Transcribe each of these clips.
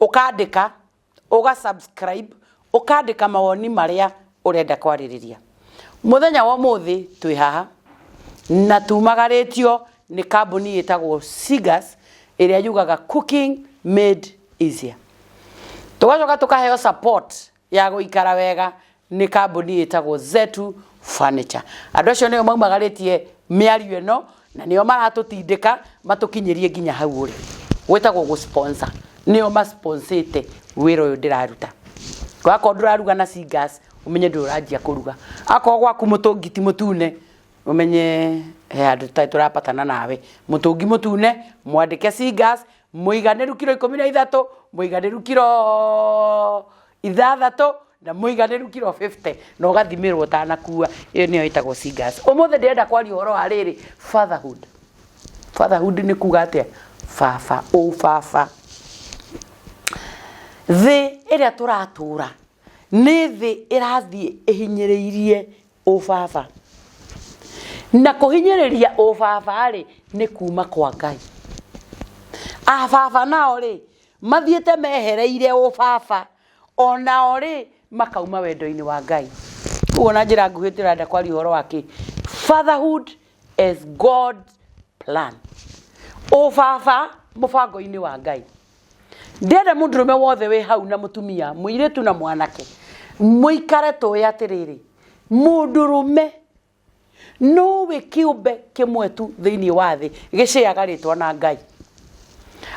ũkandĩka ũga subscribe ũkandĩka mawoni marĩa ũrenda kwarĩrĩria mũthenya wa ũmũthĩ twĩ haha na tumagarĩtio nĩ kambuni ĩtagwo Sigas ĩrĩa yugaga cooking made easier tũgacoka tũkaheo support ya gũikara wega nĩ kambuni ĩtagwo Zetu Furniture. Andũ acio nĩo maumagarĩtie mĩario ĩno na nĩo maratũtindĩka matũkinyĩrie nginya hau ũrĩ. Gwĩtagwo gũ sponsor. Nĩo ma sponsĩte wĩra ũyũ ndĩraruta. Wakorwo ndũraruga na Singas, ũmenye ndũrĩ ũranjia kũruga. Akorwo gwaku mũtũngi ti mũtune, ũmenye he handũ tũtarĩ tũrapatana nawe. Mũtũngi mũtune, mwandĩke Singas, mũiganĩru kiro ikũmi na ithatũ mũiganĩru kiro ithathatũ na mũiganĩru kiro 50 na ũgathimĩrwo ũtanakua ĩyo nĩyo ĩtagwo singas ũmũthĩ ndĩrenda kwaria ũhoro wa rĩrĩ fatherhood fatherhood nĩ kuga atĩa baba ũbaba thĩ ĩrĩa tũratũra nĩ thĩ ĩrathiĩ ĩhinyĩrĩirie ũbaba na kũhinyĩrĩria ũbaba-rĩ nĩ kuma kwa ngai ababa nao-rĩ mathiĩte mehereire ũbaba onao-rĩ makauma wendo-inĩ wa ngai ũguo na njĩra nguhĩ tũrenda kwaria ũhoro wa kĩ fatherhood as god plan ũbaba mũbango-inĩ wa ngai ndĩenda mũndũ rũme wothe wĩ hau na mũtumia mũirĩtu na mwanake mũikare tũĩ atĩrĩrĩ mũndũ rũme nowe kĩũmbe kĩmwe tu thĩinĩ wa thĩ gĩcĩaga rĩtwa na ngai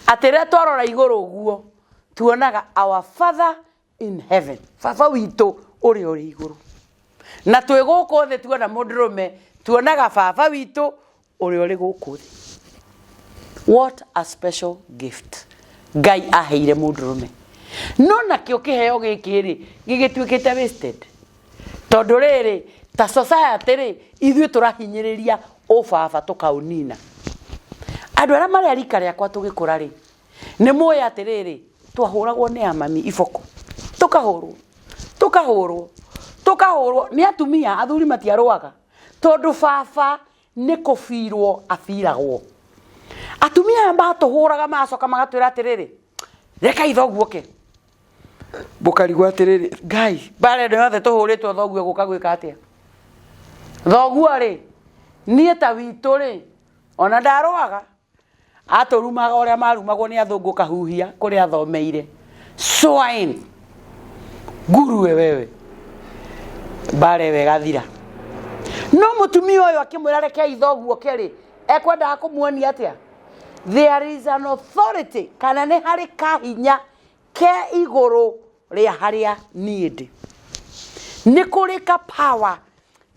atĩ rĩrĩa twarora igũrũ ũguo tuonaga our father in heaven baba witũ ũrĩa ũrĩ igũrũ na twĩ gũkũ thĩ tuona mũndũrũme tuonaga baba witũ ũrĩa ũrĩ gũkũ thĩ what a special gift ngai aheire mũndũrũme no nakĩo kĩheo gĩkĩ rĩ gĩgĩtuĩkĩte wasted tondũ rĩrĩ ta society rĩ ithuĩ tũrahinyĩrĩria ũbaba tũkaũnina andå arä a marä a rika rĩakwa tå gä kå ra rä nĩ mũĩ atĩrĩrĩ twahũragwo nĩ amami iboko tũkahũrwo tũkahũrwo tũkahũrwo nĩ atumia athuri matiarũaga tondũ baba nĩ kũbirwo abiragwo atumia aya matũhũraga magacoka magatwĩra atĩrĩrĩ reka ithoguo ke mũkarigwo atĩrĩrĩ ngai mbara ĩno yothe tũhũrĩtwo thoguo gũka gwĩka atĩa thoguo rĩ niĩ ta witũ rĩ ona ndarũaga atũrumaga ũrĩa marumagwo nĩ athũngũ kahuhia kũrĩa athomeire swine ngurue wewe mbara ĩyo ĩgathira no mũtumia ũyũ akĩmwĩra reke ithoguo kerĩ ekwendaga kũmuonia atĩa there is an authority kana nĩ harĩ kahinya ke igũrũ rĩa harĩa niĩ ndĩ nĩ kũrĩ ka power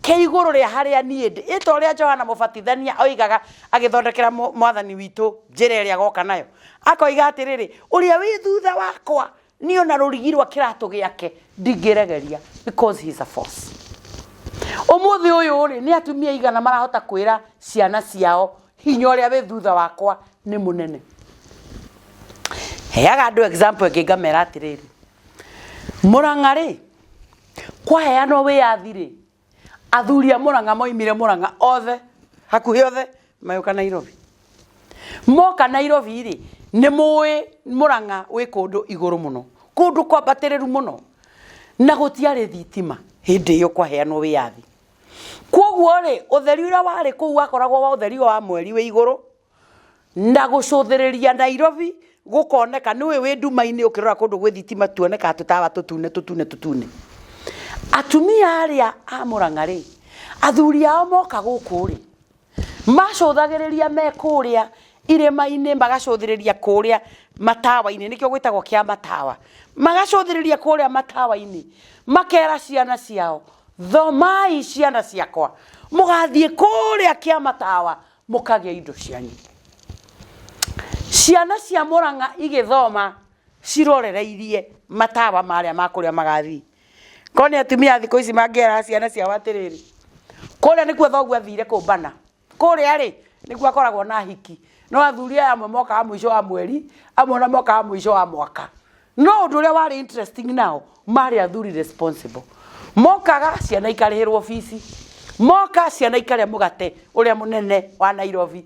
ke igũrũ rĩa harĩa niĩ ndĩ ĩta ũrĩa johana mũbatithania oigaga agĩthondekera mũ- mwathani witũ njĩra ĩrĩa goka nayo akoiga atĩrĩrĩ ũrĩa wĩ thutha wakwa nĩ ona rũrigi rwa kĩratũ gĩake ndingĩregeria because he is a force ũmũthĩ ũyũ rĩ nĩ atumia igana marahota kwĩra ciana ciao hinya ũrĩa wĩ thutha wakwa nĩ mũnene heaga andũ example ĩngĩ ngamera atĩrĩrĩ mũrang'a rĩ kwaheanwo wĩyathi rĩ athuri a mũrang'a moimire mũrang'a othe hakuhĩ othe magĩũka nairobi moka nairobi rĩ nĩ mũĩ mũrang'a wĩ kũndũ igũrũ mũno kũndũ kwambatĩrĩru mũno na gũtiarĩ thitima hĩndĩ ĩyo kwaheanwo wĩyathi koguo rĩ ũtheri ũrĩa warĩ kũu wakoragwo wa ũtheri wa mweri wĩ igũrũ na gũcũthĩrĩria nairobi gũkoneka nĩũĩ wĩ nduma-inĩ ũkĩrora kũndũ gwĩ thitima tuonekaga tũtawa tũtune tũtune tũtune atumia arĩa a mũrang'a rĩ athuri ao moka gũkũ rĩ macũthagĩrĩria me kũrĩa irĩma-inĩ magacũthĩrĩria kũrĩa matawa-inĩ nĩkĩo gwĩtagwo kĩa matawa magacũthĩrĩria kũrĩa matawa-inĩ makera ciana ciao thomai ciana ciakwa mũgathiĩ kũrĩa kĩa matawa mũkagĩa indo cianyu ciana cia mũrang'a igĩthoma cirorereirie matawa marĩa ma kũrĩa magathiĩ Korwo nĩ atumia thikũ ici mangĩera ciana ciao atĩrĩrĩ, kũrĩa nĩkuo thoguo athire kũmbana, kũrĩa rĩ, nĩkuo akoragwo na ahiki. No athuri aya amwe mokaga mũico wa mweri, amwe ona mokaga mũico wa mwaka. No ũndũ ũrĩa warĩ interesting nao, marĩ athuri responsible. Mokaga ciana ikarĩhĩrwo bici, moka ciana ikarĩa mũgate ũrĩa mũnene wa Nairobi.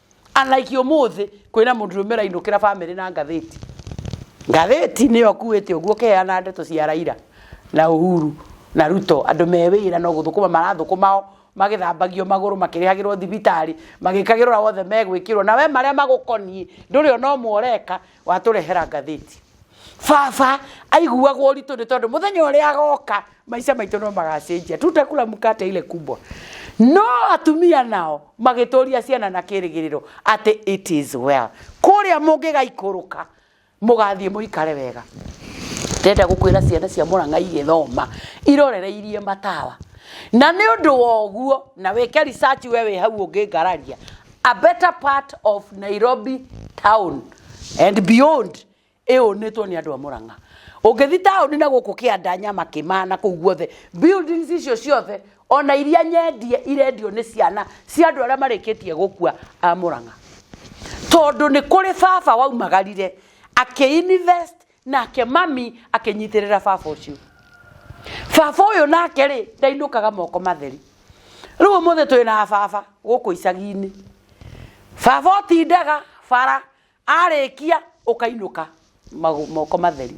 unlike umuthi kwina mundu rumira inukira family na ngatheti ngatheti niyo kuwite uguo keana ndeto cia raira na uhuru na ruto andu me wira no guthukuma marathukumao magithambagio maguru makirihagirwo thibitari magikagirwo wothe megwikirwo na we maria magukonie nduri ona umwe ureka watũrehera ngathĩti baba aiguagwo ũritũ nĩ tondũ mũthenya ũrĩa agoka maica maitũ no magacenjia tutakula mkate ile kubwa no atumia nao magĩtũria ciana na kĩrĩgĩrĩro atĩ it is well kũrĩa mũngĩgaikũrũka mũgathiĩ mũikare wega ndenda gũkwĩra ciana cia mũrang'a igĩthoma irorereirie matawa na nĩ ũndũ wa ũguo na wĩke research we wĩ hau ũngĩngararia a better part of nairobi town and beyond ĩũnĩtwo nĩ andũ a mũrang'a ũngĩthi taũni na gũkũ kĩanda nyama kĩmaa na kũu guothe buildings icio ciothe ona iria nyendie irendio nĩ ciana cia andũ arĩa marĩkĩtie gũkua a mũrang'a tondũ nĩ kũrĩ baba waumagarire akĩinvest nake mami akĩnyitĩrĩra baba ũcio baba ũyũ nake rĩ ndainũkaga moko matheri rĩu ũmũthĩ twĩ na baba gũkũ icagi-inĩ baba ũtindaga bara arĩkia ũkainũka magũ- moko matheri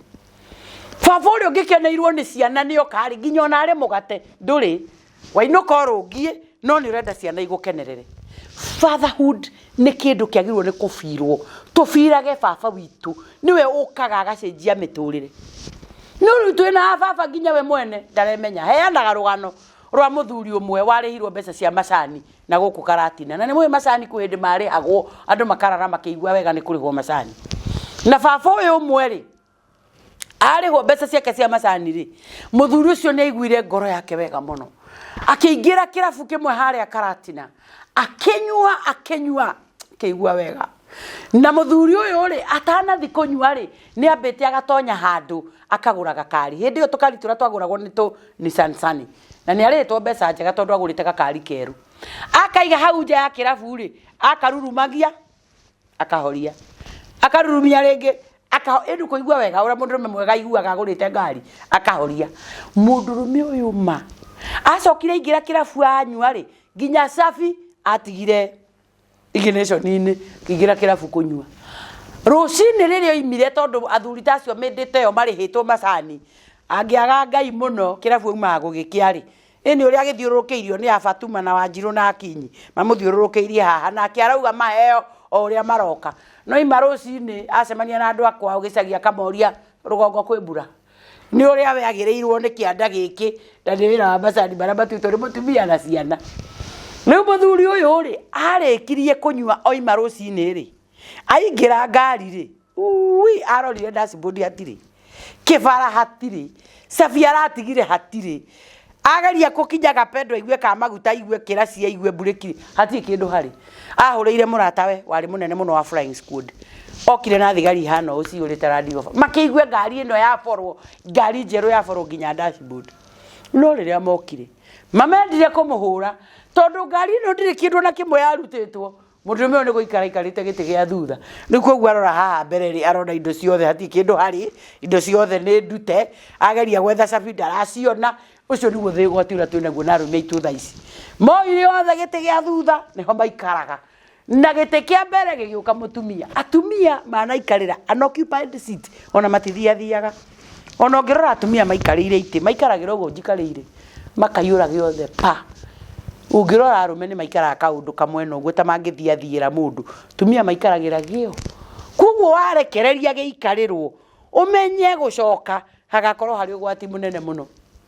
baba ũrĩa ũngĩkeneirwo nĩ ciana nĩ okarĩ nginya ona arĩ mũgate ndũrĩ wainũka ũrũngiĩ no nĩ ũrenda ciana igũkenerere fatherhood nĩ kĩndũ kĩagĩrĩirwo nĩ kũbirwo tũbirage baba witũ nĩwe ũkaga agacenjia mĩtũrĩre no rĩu twĩ na baba nginya we mwene ndaremenya heanaga rũgano rwa mũthuri ũmwe warĩhirwo mbeca cia macani na gũkũ karatina na nĩ mũĩ macani kwĩ hĩndĩ marĩhagwo andũ makarara makĩigua wega nĩ kũrĩhwo macani na baba ũyũ ũmwe rĩ arĩhwo mbeca ciake cia macani rĩ mũthuri ũcio nĩ aiguire ngoro yake wega mũno akĩingĩra kĩrabu kĩmwe harĩa karatina akĩnyua akĩnyua akĩigua wega na mũthuri ũyũ rĩ atanathi kũnyua rĩ nĩ ambĩte agatonya handũ akagũra gakari hĩndĩ ĩyo tũkari tũrĩa twagũragwo nĩ tũ Nissan Sunny na nĩ arĩhĩtwo mbeca njega tondũ agũrĩte gakari keru akaiga hau nja ya kĩrabu rĩ akarurumagia akahoria akarurumia rĩngĩ aka- ĩndĩ kũigua wega ũrĩa mũndũrũme mwega aiguaga agũrĩte ngari akahoria mũndũrũme ũyũ ma acokire aingĩra kĩrabu anyua-rĩ nginya cabi atigire iginationinĩ kĩingĩra kĩrabu kũnyua rũcinĩ rĩrĩa oimire tondũ athuri ta acio mĩndĩte ĩyo marĩhĩtwo macani angĩaga ngai mũno kĩrabu aumaga gũgĩkĩa-rĩ Ĩnĩ ũrĩa agĩthiũrũrũkĩirio nĩ a Fatuma na Wanjirũ na Akinyi mamũthiũrũrũkĩirie haha nake arauga maheo o ũrĩa maroka. No ima rũcinĩ acemania na andũ a kwao gĩcagi akamoria rũgongo kwĩ mbura? Nĩ ũrĩa we agĩrĩirwo nĩ kĩanda gĩkĩ na nĩ wĩra wa macani marĩa matuĩtwo nĩ mũtumia na ciana. Rĩu mũthuri ũyũ rĩ arĩkirie kũnyua oima rũcinĩ rĩ, aingĩra ngari rĩ ui arorire dashboard hatirĩ kĩbara hatirĩ cabi aratigire hatirĩ ageria kũkinya gapendo aigue ka maguta aigue kĩraci aigue mburĩki hatirĩ kĩndũ harĩ ahũrĩire mũratawe warĩ mũnene mũno wa flying squad okire na thigari ihana ũũ cihũrĩte Land Rover makĩigue ngari ĩno yaborwo ngari njerũ yaborwo nginya dashboard no rĩrĩa mokire mamendire kũmũhũra tondũ ngari ĩno ndĩrĩ kĩndũ na kĩmwe yarutĩtwo Mũndũrũme ũyũ nĩ gũikara aikarĩte gĩtĩ gĩa thutha. Rĩu koguo arora haha mbere rĩ, arona indo ciothe hatirĩ kĩndũ harĩ, indo ciothe nĩ ndute. Ageria gwetha cabi ndaraciona. Ũcio nĩguo thĩ ũgwati ũrĩa twĩ naguo na arũme aitũ thaa ici. Moire othe gĩtĩ gĩa thutha nĩho maikaraga. Na gĩtĩ kĩa mbere gĩgĩũka mũtumia. Atumia manaikarĩra an occupied seat ona matithiathiaga. ona ũngĩrora atumia maikarĩire itĩ maikaragĩra ũguo njikarĩire makaihũra gĩothe pa, ũngĩrora arũme nĩ maikaraga kaũndũ kamwena ũguo ta mangĩthiathiĩra mũndũ, atumia maikaragĩra gĩũ, kwoguo warekereria gĩikarĩrwo ũmenye gũcoka hagakorwo harĩ ũgwati mũnene mũno.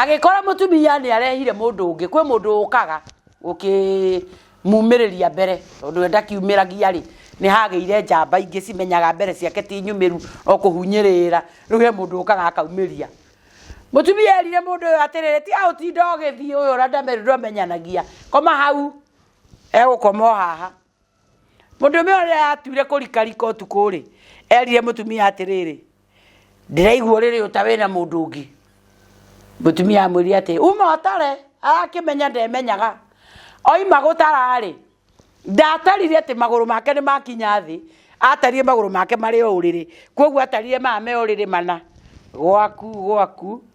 agĩkora mũtumia nĩ arehire mũndũ ũngĩ kwĩ mũndũ ũkaga ũkĩmumĩrĩria mbere tondũ we ndakiumĩragia rĩ nĩ hagĩire njamba ingĩ cimenyaga mbere ciake ti nyumĩru o kũhunyĩrĩra rĩu he mũndũ ũkaga akaumĩria mũtumia erire mũndũ ũyũ atĩrĩrĩ tiga gũtinda ũgĩthiĩ ũyũ ũrĩa ndamenyanagia koma hau egũkoma o haha Mũndũme ũrĩa atuire kũrikarika ũtukũ rĩ, erire mũtumia atĩrĩrĩ, ndĩraigua ũrĩrĩ ũta wĩna mũndũ ũngĩ. Mũtumia amwĩrire atĩ uma ũtare, arakĩmenya ndemenyaga. Oima gũtara rĩ, ndatarire atĩ magũrũ make nĩ makinya thĩ, atarire magũrũ make marĩ o ũrĩrĩ. Koguo atarire maya me ũrĩrĩ mana, gwaku gwaku.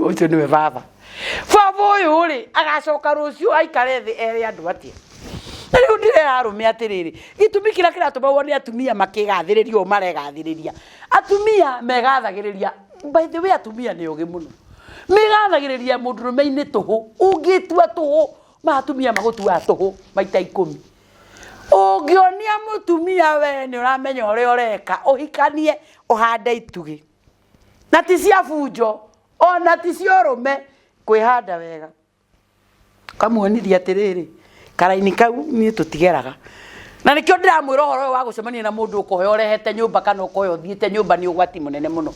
ucio niwe baba baba uyu ri agacoka ruciu aikare thi ere andu atia na riu ndirera arume atiriri gitumi kira kiratumagwo ni atumia makigathiriria u maregathiriria atumia megathagiriria by the way atumia ni ugi muno migathagiriria mundurume-ini tuhu ungitua tuhu ma atumia magutuaga tuhu maita ikumi ũngĩonia mũtumia we nĩ ũramenya ũrĩa ũreka ũhikanie ũhande itugi na ti cia bunjo ona ti cia ũrũme kwĩhanda wega kamuonithia atĩrĩrĩ karaini kau niĩ tũtigeraga na nĩkĩo ndĩramwĩra ũhoro ũyũ wa gũcemania na mũndũ ũkohe ũrehete nyũmba kana ũkohe ũthiĩte nyũmba nĩ ũgwati mũnene mũno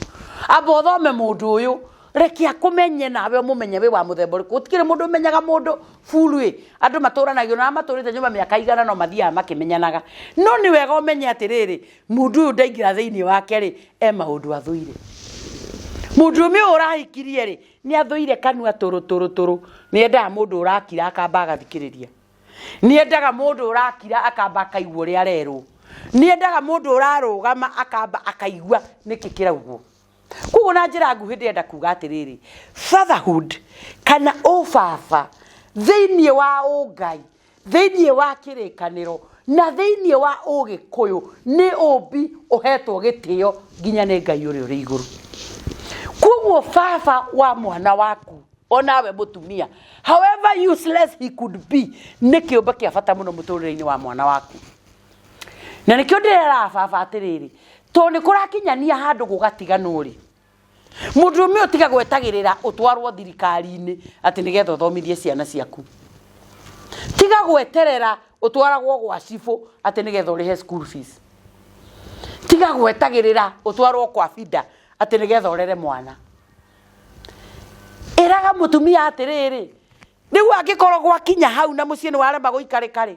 amba ũthome mũndũ ũyũ reke akũmenye nawe ũmũmenye wĩ wa mũthemba ũrĩkũ gũtikĩrĩ mũndũ ũmenyaga mũndũ buru ĩ andũ matũranagio na arĩa matũrĩte nyũmba mĩaka igana no mathiaga makĩmenyanaga no nĩ wega ũmenye atĩrĩrĩ mũndũ ũyũ ndaingĩra thĩinĩ wake rĩ e maũndũ athũire mũndũrũme ũyũ ũrahikirie rĩ nĩ athũire kanua tũrũ tũrũ tũrũ nĩ endaga mũndũ ũrakira akamba agathikĩrĩria nĩ endaga mũndũ ũrakira akamba akaigua ũrĩa arerwo nĩ endaga mũndũ ũrarũgama akamba akaigua nĩkĩ kĩraugwo koguo na njĩra nguhĩ ndĩrenda kuga atĩrĩrĩ fatherhood kana ũbaba thĩinĩ wa ũngai thĩinĩ wa kĩrĩkanĩro na thĩinĩ wa ũgĩkũyũ nĩ ũmbi ũhetwo gĩtĩo nginya nĩ ngai ũrĩa ũrĩ igũrũ koguo baba wa mwana waku onawe mũtumia however useless he could be nĩ kĩũmbe kĩa bata mũno mũtũrĩre-inĩ wa mwana waku na nĩkĩo ndĩreraga baba atĩrĩrĩ tondũ nĩ kũrakinyania handũ gũgatiganwo rĩ Mũndũrũme ũyũ tiga gwetagĩrĩra ũtwarwo thirikari-inĩ atĩ nĩgetha ũthomithie ciana ciaku. Tiga gweterera ũtwaragwo gwa cibũ atĩ nĩgetha ũrĩhe school fees. Tiga gwetagĩrĩra ũtwarwo kwa bida atĩ nĩgetha ũrere mwana. Ĩraga mũtumia atĩrĩrĩ, rĩu angĩkorwo gwakinya hau na mũciĩ nĩwarema gũikarĩka-rĩ,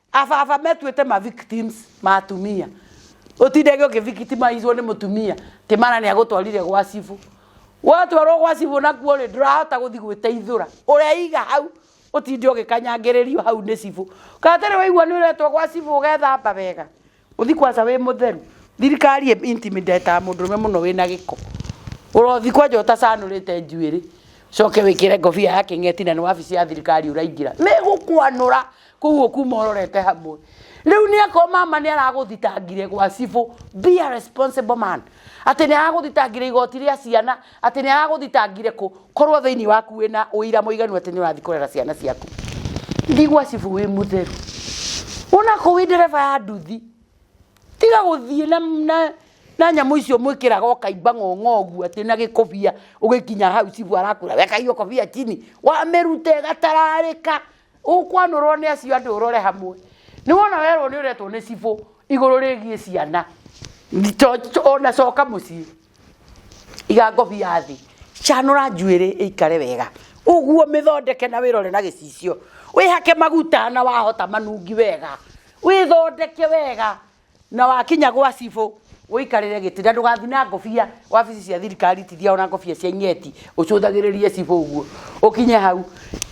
Ababa metuĩte ma victims ma atumia ũtindage ũkĩvictimizwo nĩ mũtumia atĩ mara nĩ agũtwarire gwa cibũ watwarwo gwa cibũ nakuo rĩ ndũrahota gũthi gwĩteithũra ũreiga hau ũtinde ũgĩkanyangĩrĩrio hau nĩ cibũ kana tarĩ waigua nĩ ũretwo gwa cibũ ũgethamba wega Uthi kwanja wi mutheru. Thirikari ĩ intimidater mũndũrũme mũno wĩna gĩko. Ũrothi kwanja ũtacanũrĩte njuĩrĩ, ũcoke wĩkĩre ngobia ya kĩng'eti na nĩ wabici ya thirikari ũraingĩra. Megũkwanũra kũu ũkuma ũrorete hamwe. Rĩu nĩ akorwo mama nĩ aragũthitangire gwa cibũ. Be a responsible man. Atĩ nĩ aragũthitangire igoti rĩa ciana atĩ nĩ aragũthitangire kũ korwo thĩinĩ waku wĩna ũira mũiganu atĩ nĩ ũrathiĩ kũrera ciana ciaku thiĩ gwa cibu wĩ mũtheru ũnakũ wĩ ndereba ya nduthi tiga gũthiĩ na, na, na nyamũ icio mwĩkĩraga ũkaimba ng'ong'o ũguo atĩ na gĩkobia ũgĩkinya hau cibu arakwĩra weka hiyo kobia chini wamĩrute gatararĩka ũkwanũrwo nĩ acio andũ ũrore hamwe nĩ wona werwo nĩ ũretwo nĩ cibũ igũrũ rĩgiĩ ciana to- to- ona coka mũciĩ iga ngobi ya thĩ canũra njuĩrĩ ĩikare wega ũguo mĩthondeke na wĩrore na gĩcicio wĩhake maguta na wahota manungi wega wĩthondeke wega na wakinya gwa cibũ ũikarĩre gĩtĩ na ndũgathi na ngobia wabici cia thirikari tithia ona ngobia cia ing'eti ũcũthagĩrĩrie cibũ ũguo ũkinye hau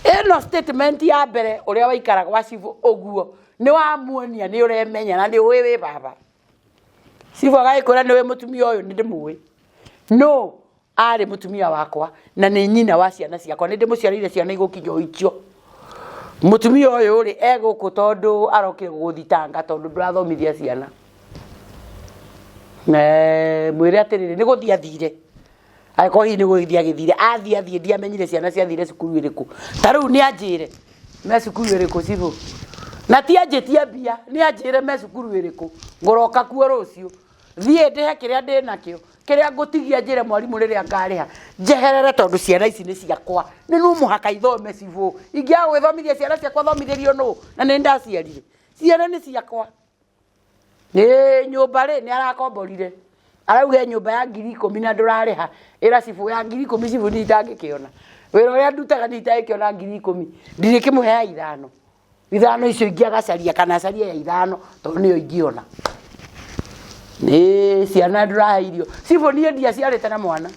ĩno statement ya mbere ũrĩa waikara gwa cibũ ũguo nĩ wamuonia nĩ ũremenya na nĩ ũĩ wĩ baba cibu agagĩkwĩra nĩwe mũtumia ũyũ nĩ ndĩmũĩ no arĩ mũtumia wakwa na nĩ nyina wa ciana ciakwa nĩ ndĩmũciarĩire ciana igũkinya oikio mũtumia ũyũ rĩ egũkũ tondũ arokire gũgũthitanga tondũ ndũrathomithia ciana mwĩre atĩrĩrĩ nĩ gũthiĩ athire angĩkorwo hihi nĩ gũgĩthiĩ agĩthire athiĩ athiĩ ndiamenyire ciana ciathire cukuru ĩrĩkũ ta rĩu nĩ anjĩre me cukuru ĩrĩkũ cibũ na ti anjĩtie mbia nĩ anjĩre me cukuru ĩrĩkũ ngũroka kuo rũciũ thiĩ ndĩhe kĩrĩa ndĩ nakĩo kĩrĩa ngũtigia njĩre mwarimũ rĩrĩa ngarĩha njeherere tondũ ciana ici nĩ ciakwa nĩ no mũhaka ithome cibũ ingĩaga gwĩthomithia ciana ciakwa thomithĩrio nũ na nĩ ndaciarire ciana nĩ ciakwa Ĩĩ, nyũmba rĩ nĩ arakomborire arauga nyũmba ya ngiri ikũmi na ndũrarĩha ĩra cibũ ya ngiri ikũmi cibũ nĩ itangĩkĩona wĩra ũrĩa ndutaga nĩ itangĩkĩona ngiri ikũmi ndirĩkĩmũhe ya ithano ithano icio ingĩ agacaria kana acarie ya ithano tondũ nĩyo ingĩona nĩ ciana ndũrahe irio cibũ niĩ ndiaciarĩte na mwana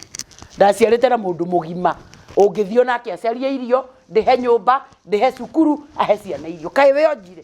ndaciarĩte na mũndũ mũgima ũngĩthiĩ onake acarie irio ndĩhe nyũmba ndĩhe cukuru ahe ciana irio kaĩ wĩonjire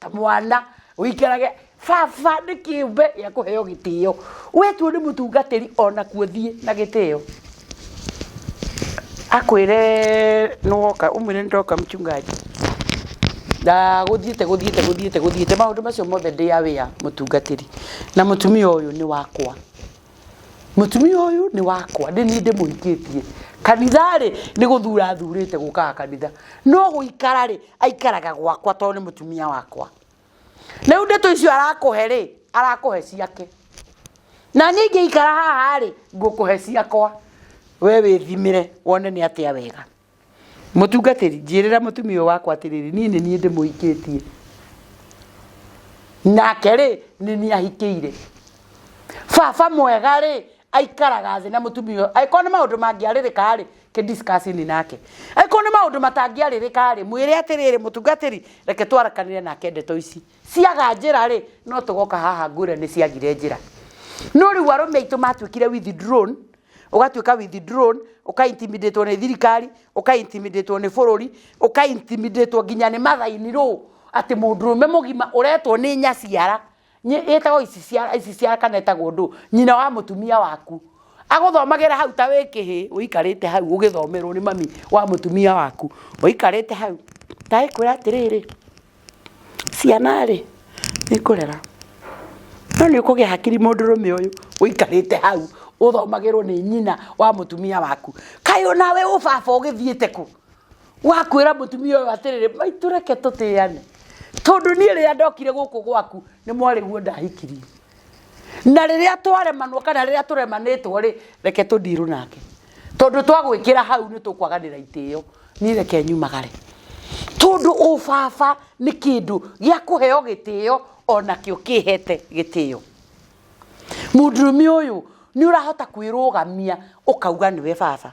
ta mwana ũikarage baba nĩ kĩũmbe gĩa kũheo gĩtĩo wetwo nĩ mũtungatĩri ona kuo thiĩ na gĩtĩo akwĩre nĩwoka ũmwĩre nĩndoka mchungaji na gũthiĩte gũthiĩte gũthiĩte gũthiĩte maũndũ macio mothe ndĩ aware mũtungatĩri na mũtumia ũyũ nĩ wakwa mũtumia ũyũ nĩ wakwa ndĩ niĩ ndĩmũhikĩtie kanitha-rĩ nĩ gũthura athurĩte gũkaga kanitha no gũikara-rĩ aikaraga gwakwa tondũ nĩ mũtumia wakwa rĩu ndeto icio arakũhe-rĩ arakũhe ciake na niĩ ingĩikara haha-rĩ ngũkũhe ciakwa we wĩthimĩre wone nĩ atĩa wega. mũtungatĩri njĩrĩra mũtumia ũyũ wakwa atĩrĩrĩ niĩ nĩ niĩ ndĩmũhikĩtie nake rĩ nĩ niĩ ahikĩire baba mwega rĩ aikaraga thĩ na mũtumia ũyũ angĩkorwo nĩ maũndũ mangĩarĩrĩka rĩ kĩdiskacini nake angĩkorwo nĩ maũndũ matangĩarĩrĩka rĩ mwĩre atĩrĩrĩ mũtungatĩri reke twarakanĩre nake ndeto ici ciaga njĩra rĩ no tũgoka haha ngwĩre nĩ ciagire njĩra no rĩu arũme aitũ matuĩkire withdrawn ũgatuĩka withdrawn ũka intimidate nĩ thirikari ũka intimidate nĩ bũrũri ũka intimidate nginya nĩ mathaini rũ atĩ mũndũrũme mũgima ũretwo nĩ nyaciara Nyi- ĩtagwo ici ciara ici ciara kana ĩtagwo ndũ nyina wa mũtumia waku agũthomagĩra hau ta wĩ kĩhĩ ũikarĩte hau ũgĩthomerwo nĩ mami wa mũtumia waku ũikarĩte hau ta ĩkwĩra atĩrĩrĩ ciana rĩ nĩ kũrera no nĩ ũkũgĩa hakiri mũndũrũme ũyũ ũikarĩte hau ũthomagĩrwo nĩ nyina wa mũtumia waku kaĩ onawe ũ baba ũgĩthiĩte kũ wakwĩra mũtumia ũyũ atĩrĩrĩ maitũ reke tũtĩyane tondũ niĩ rĩrĩa ndokire gũkũ gwaku nĩ mwarĩguo ndahikirie na rĩrĩa twaremanwo kana rĩrĩa tũremanĩtwo rĩ reke tũndirũ nake tondũ twagwĩkĩra hau nĩ tũkwaganĩra itĩo niĩ reke nyumagare tondũ ũbaba nĩ kĩndũ gĩa kũheo gĩtĩo onakĩo kĩhete gĩtĩo mũndũrũme ũyũ nĩ ũrahota kwĩrũgamia ũkauga nĩwe baba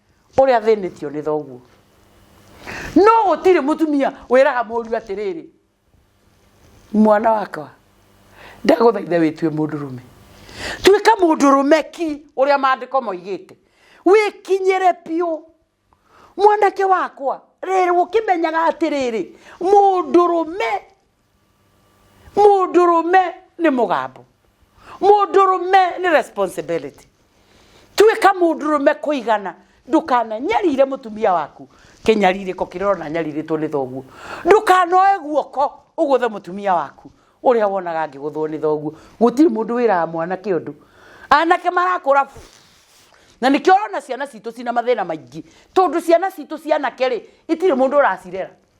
ũrĩa athĩnĩtio nĩ thoguo no gũtirĩ mũtumia wĩraga mũriũ atĩrĩrĩ mwana wakwa ndagũthaithe wĩtue mũndũ rũme tuĩka mũndũ rũme ki ũrĩa maandĩko moigĩte wĩkinyĩre biũ mwanake wakwa rĩrĩ ũkĩmenyaga atĩrĩrĩ mũndũ rũme mũndũrũme nĩ mũgambo mũndũrũme nĩ responsibility tuĩka mũndũrũme kũigana ndũkananyarire mũtumia waku kĩnyarirĩko kĩrĩa ũrona nyarirĩtwo nĩ thoguo ndũkanoe guoko ũgũthe mũtumia waku ũrĩa wonaga ngĩgũthwo nĩ thoguo gũtirĩ mũndũ wĩraga mwanake ũndũ anake marakũra na nĩkĩo ũrona ciana citũ cina mathĩna maingĩ tondũ ciana citũ cianake rĩ itirĩ mũndũ ũracirera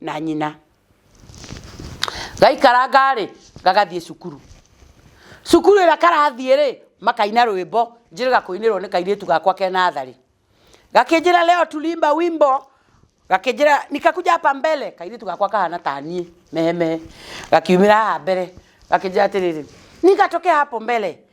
na nyina gaikaranga rĩ gagathiĩ cukuru cukuru ĩrĩa karathiĩ rĩ makaina rwĩmbo njĩrĩga kũinĩrwo nĩ kairĩtu gakwa ke natharĩ gakĩnjĩra leo tulimba wimbo gakĩnjĩra nikakuja hapa mbele kairĩtu gakwa kahana ta niĩ mehemehe gakiumĩra haha mbere gakĩnjĩra atĩrĩrĩ nikatoke hapo mbele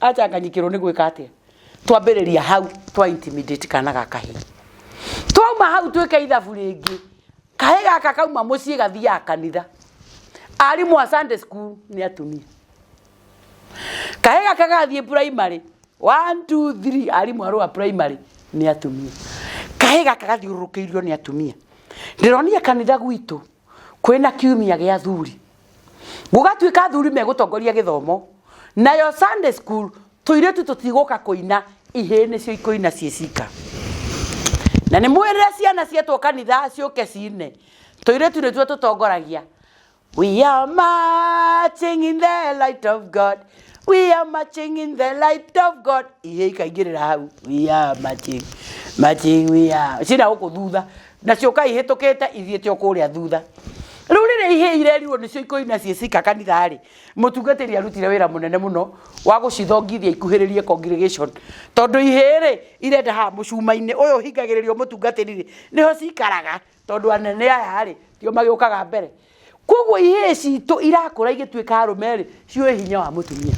acanganyikĩrwo nĩ gwĩka atĩa twambĩrĩria hau twa intimidate kana ga kahĩ twauma hau twĩke ithabu rĩngĩ kahĩ gaka kauma mũciĩ gathiaga kanitha arimũ a sunday school nĩ atumia kahĩ gaka gathiĩ primary one two three arimũ arũa primary nĩ atumia kahĩ gaka gathiũrũrũkĩirio nĩ atumia ndĩronire kanitha gwitũ kwĩna kiumia gĩa athuri gũgatuĩka athuri megũtongoria gĩthomo nayo Sunday school tũirĩtu tũtigũka kũina ihĩĩ nĩcio ikũina ciĩ cika na nĩ mwĩrĩre ciana cietwo kanitha ciũke cine tũirĩtu nĩtuo tũtongoragia We are marching in the light of God. We are marching in the light of God. Ihĩĩ ikaingĩrĩra hau. We are marching. Marching we are. Cina gũkũ thutha. nacio kai hĩtũkĩte ithiĩte o kũrĩa thutha rũrĩrĩ ihĩ irerirwo nĩcio ikoina ciĩ cika kanitha-rĩ mũtungatĩri arutire wĩra mũnene mũno wa gũcithongithia ikuhĩrĩrie congregation tondũ ihĩ-rĩ irenda haha mũcuma-inĩ ũyũ ũhingagĩrĩrio mũtungatĩri-rĩ nĩho cikaraga tondũ anene aya-rĩ tio magĩũkaga mbere koguo ihĩ citũ irakũra igĩtuĩka arũme-rĩ ciũĩ hinya wa mũtumia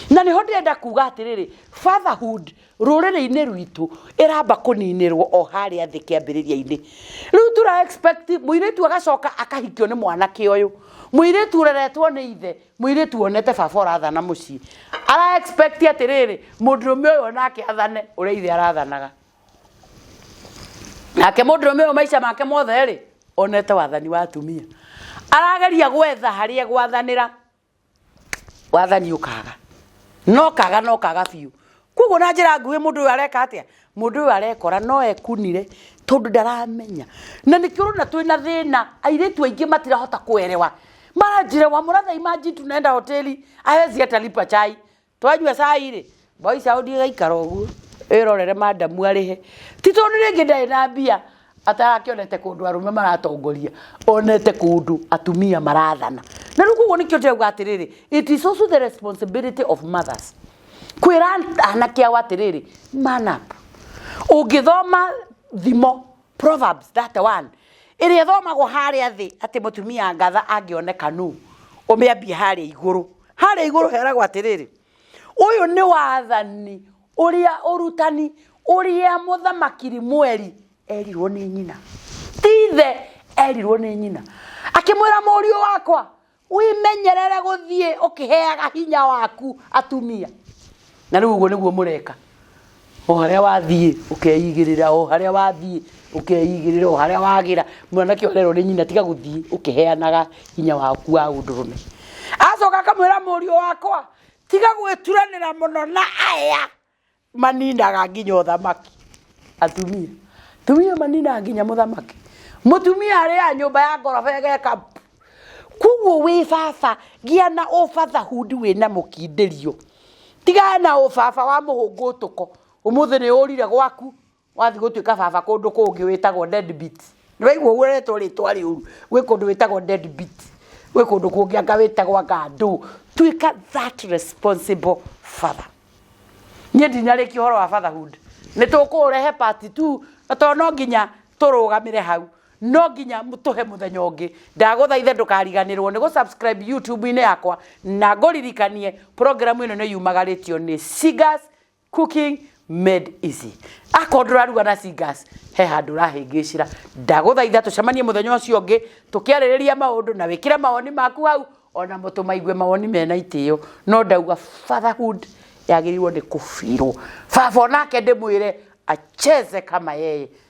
na nĩho ndĩrenda kuga atĩrĩrĩ fatherhood rũrĩrĩ-inĩ rwitũ ĩramba kũninĩrwo o harĩa thĩ kĩambĩrĩria-inĩ rĩu tura expect mũirĩtu agacoka akahikio nĩ mwanake ũyũ mũirĩtu ũreretwo nĩ ithe mũirĩtu wonete baba ũrathana mũciĩ ara expect atĩrĩrĩ mũndũrũme ũyũ onake athane ũrĩa ithe arathanaga nake mũndũrũme ũyũ maica make mothe rĩ onete wathani wa atumia arageria gwetha harĩa gwathanĩra wathani ũkaga no kaga no kaga biũ koguo na njĩra nguhĩ mũndũ ũyũ areka atĩa mũndũ ũyũ arekora no ekunire tondũ ndaramenya na nĩkĩo ũrona twĩ na thĩna airĩtu aingĩ matirahota kwerewa maranjĩrewa mũrathai maji tunaenda hoteli awezi atalipa chai twanyua cai rĩ mwagica ũthiĩ gaikara ũguo ĩrorere madamu arĩhe ti tondũ rĩngĩ ndarĩ na mbia atarakĩonete kũndũ arũme maratongoria onete kũndũ atumia marathana na rĩu koguo nĩkĩo ndĩrauga atĩrĩrĩ it is also the responsibility of mothers kwĩra anake ao atĩrĩrĩ man up ũngĩthoma thimo Proverbs 31 ĩrĩa ĩthomagwo harĩa thĩ atĩ mũtumia ngatha angĩoneka nũ ũmĩambie harĩa igũrũ harĩa igũrũ heragwo atĩrĩrĩ ũyũ nĩ wathani ũrĩa ũrutani ũrĩa mũthamaki rimweri erirwo nĩ nyina tithe erirwo nĩ nyina akĩmwĩra mũriũ wakwa wimenyerere guthiĩ ũkĩheaga hinya waku atumia na rĩu ũguo nĩguo mũreka o harĩa wathiĩ ũkeigĩrĩra o harĩa wathiĩ ũkeigĩrĩra o harĩa wagĩra mwanake orerwo nĩ nyina tiga gũthiĩ ũkĩheanaga hinya waku wa ũndũrũme acoka akamwĩra mũriũ wakwa tiga gwĩturanĩra mũno na aya maninaga nginya ũthamaki atumia tumia maninaga nginya mũthamaki mũtumia arĩa nyũmba ya ngoroba ĩgeka koguo wĩ baba gĩa na ũbathahundi wĩ na mũkindĩrio tigana na ũbaba wa mũhũngũtũko ũmũthĩ nĩ ũrire gwaku wathiĩ gũtuĩka baba kũndũ kũngĩ wĩtagwo deadbeat nĩ waigua ũguo ũretwo rĩtwa rĩũru gwĩ kũndũ wĩtagwo deadbeat gwĩ kũndũ kũngĩ anga wĩtagwo anga ndũ tuĩka that responsible father niĩ ndinarĩkia ũhoro wa fatherhood nĩ tũkũũrehe part two na tondũ no nginya tũrũgamĩre hau no nginya m- tũhe mũthenya ũngĩ ndagũthaithe ndũkariganĩrwo nĩ gũsubscribe youtube-inĩ yakwa na ngũririkanie programu ĩno nĩ yumagarĩtio nĩ Singers Cooking made easy. Akorwo ndũraruga na singers, he handũ ũrahĩngĩcĩra. Ndagũthaitha tũcemanie mũthenya ũcio ũngĩ, tũkĩarĩrĩria maũndũ na wĩkĩre mawoni maku hau, ona mũtũ maigue mawoni mena itĩo. No ndauga fatherhood yagĩrĩirwo nĩ kũbirwo. Baba onake ndĩmwĩre acheze kama yeye.